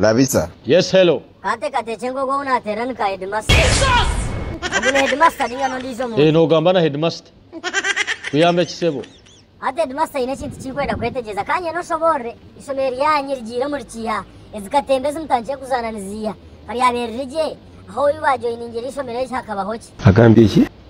Labisa. Yes hello. Kanteekateekye ngu ogu ou naateerera ni ka heedimasita. Ogu ni heedimasita nainga n'ondiijo muntu? Eeh noogamba na heedimasita. Kuyamba ki sebo? Hati heedimasita aine ekintu ki ndikwenda kwetegyereza. Ka nyende oshoboorore. Eishomero ryanyu rigiire omuri kiiha? Ezi katemba ezi mutandikire kuzaana niziiha? Ka ryabeerire gye, ahu ou baajoiningire eishomero egi hakabaho ki? Agambye ki?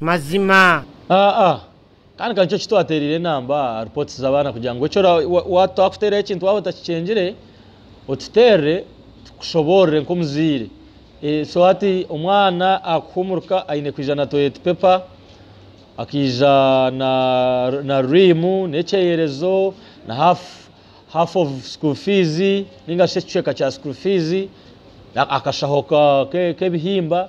Mazima. Aa, kandi ka nikyo ki twateereire enamba aha reports z'abaana kugira ngu eki ora, twakuteeraho ekintu waaba otakikyengire, otuteerere tukushoboorore nk'omuzaire. So hati omwana akuhumuruka aine kwija na toilet paper, akaija na, na ream, n'ekyeyerezo, na half, half of school fees, nainga shi ekicweka kya school fees, akashaho ka, k'ebihimba.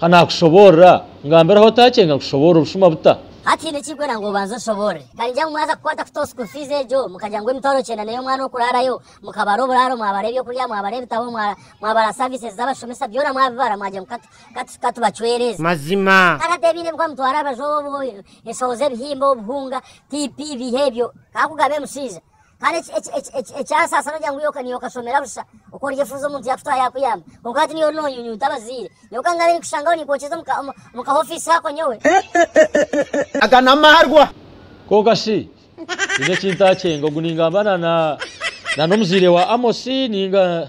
Ka naakushoboorora, ngambiraho otaakyenga nkushoboorore obushuma buta? Hati haine eki ndikwenda ngu obanze oshoboorore. Ka ningira ngu mwaza kukwata kuta obu school fees egyo, mukagira ngu emitwaro kyenda n'ey'omwana okuraarayo, mukabara oburaaro, mwabara eby'okurya, mwabara ebitabo, mwabara services z'abashomesa, byona mwabibara mwagira ngu ka tubacwereeze. Mazima. Ka tateebiine ebi kwamutwara aha rubaju obu, enshoho z'ebihimba, obuhunga, TP, biiha ebyo. Ka kugaba emushaija. Kandi ekyasaasana ogira ngu iwe okashomera busha okoryefuuza omuntu yaakutwara yaakuyamba kwonka hati niiwe ori noonyunyunta abazaire. Nyowe ka ngaabe ninkushangaho ninkwokyeza omu ka ofiisi ako nyowe. Aga n'amarwa kwonka shi haine eki ntaakyenga? Ogu ningamba na n'omuzaire wa Amosi nainga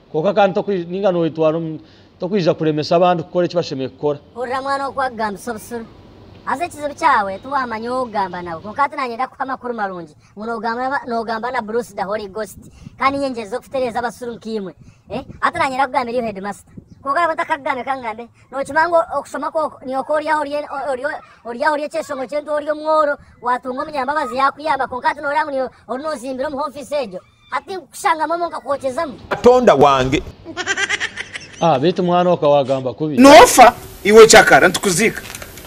Kwonka kandi tokwija ninga noyetwara omu tokwija kuremesa abandi kukora eki bashemereire kukora. Hurira mwana oku akugambisa obusuru. Haza ekizibu kyawe tiwamanya ow'okugamba nawe. Kwonka hati nanye ndakuha amakuru marungi ngu nogamba nogamba na Bruce the Holy Ghost kandi nyengyereize kukutereeza abasuru nk'eimwe. Eh, hati nanye ndakugambira erio headmaster. Kwonka nabwo ntakakugambire ka ngambe, nokimanya ngu okushoma kwo niwe ku oryaha orye orye oryaha orye ekyeshongo ky'entuha orye omworo, watunga omunyambabazi yakuyamba kwonka hati noreba ngu niwe oru nozimbira omu h'ofisi egyo. Hati nkukushangamu omu nkakwookyezamu. Katonda wange. Ah beitu mwana oka wagamba kubi. Nofa iwe cakara nitukuziika.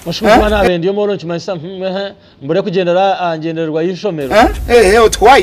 Oshukuza omwana wa bendi omwe orwo nikimanyisa hum ehe mbure kugyendera aha ngyendererwa y'eishomero. Ehe oti why?